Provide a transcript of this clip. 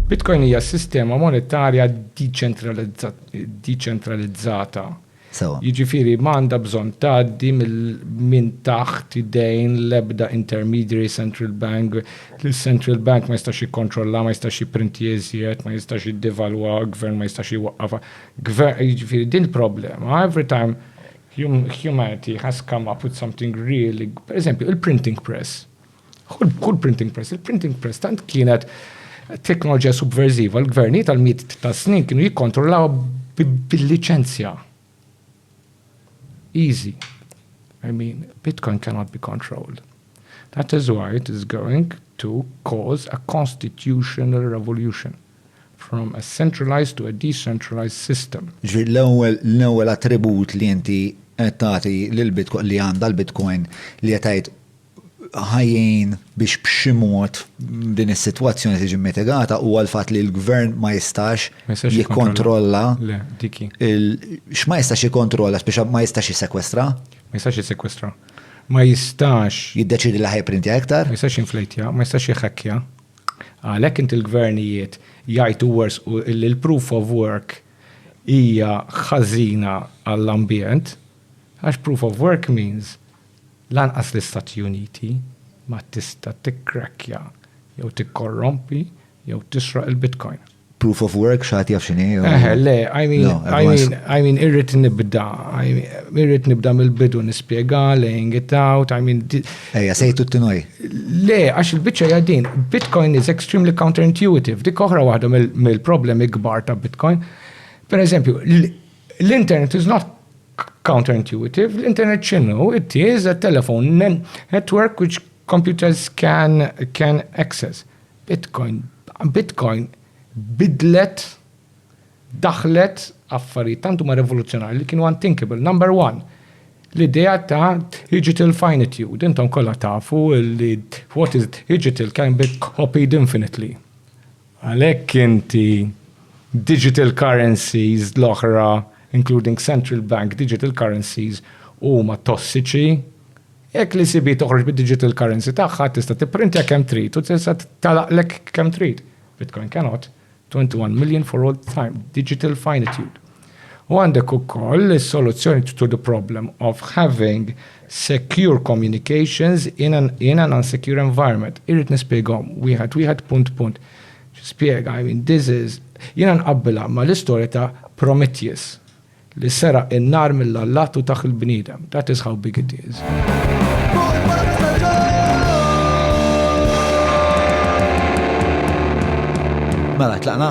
Bitcoin hija s-sistema monetarja diċentralizzata. Sewwa. Jiġifieri ma għandha bżonn tgħaddi minn taħt idejn l-ebda intermediary, central bank, li central bank ma jistax jikkontrollha, ma jistax jipprintija iżjed, ma jistax jiddevalwa, gvern ma jistax iwaqqafha. Jiġifieri din il-problema, every time humanity has come up with something really, pereżempju, il-printing press. Kull printing press, il-printing press tant kienet teknoloġija subversiva, l-gvernijiet tal miet ta' snin kienu jikkontrollaw bil-liċenzja. Easy. I mean, Bitcoin cannot be controlled. That is why it is going to cause a constitutional revolution from a centralized to a decentralized system. Ġi l-ewwel l-ewwel attribut li inti qed tagħti lil Bitcoin li għandha l-Bitcoin li qed tgħid ħajjin biex b'xi mod din is-sitwazzjoni tiġi mitigata huwa l-fatt li l-gvern ma jistax jikkontrolla x'ma jistax jikkontrolla biex ma jistax jissekwestra. Ma jistax jissekwestra. Ma jistax. Jiddeċidi li ħajprintja iktar. Ma jistax jinflejtja, ma jistax jħakkja. Għalhekk inti l-gvernijiet jgħidu wers u li l-proof of work hija ħażina għall-ambjent għax proof of work means Lanqas l-Istati Uniti ma tista' tikkrakkja jew tikkorrompi jew tisroq il-Bitcoin. Proof of work x'ħadd jaf x'inhi jew. Eħe, le, I mean, No, I everyone's- mean, I mean, irrid nibda, I mean, irrid nibda mill-bidu nispjega, laying it out, I mean, di- Ejja, sejtu t-tinoj. Le, għax il-bicċa hija din, Bitcoin is extremely counterintuitive, dik oħra waħda mill- mill-problemi kbar ta' Bitcoin. Per eżempju, l- L-internet is not counterintuitive, l-internet x'inhu? It is a telephone network which computers can can access. Bitcoin Bitcoin bidlet daħlet affarijiet tant huma revoluzzjonarji li kienu unthinkable. Number one, l-idea ta' digital finitude, intom kollha tafu li what is digital can be copied infinitely. Għalhekk inti digital currencies l-oħra including central bank digital currencies huma tossiċi. Jekk l-ECB toħroġ bid-digital currency tagħha tista' tipprintja kemm trid u tista' tagħlaqlek kemm trid. Bitcoin cannot. 21 million for all time. Digital finitude. U għandek ukoll is-soluzzjoni to the problem of having secure communications in an, in an unsecure environment. Irrid nispjegahom wieħed wieħed punt punt. Spjega, I mean, this is, jiena nqabbilha ma l-istorja ta' Prometheus li seraq in-nar mill-allat u tah il-bniedem. That is how big it is. Mela, tlaqna?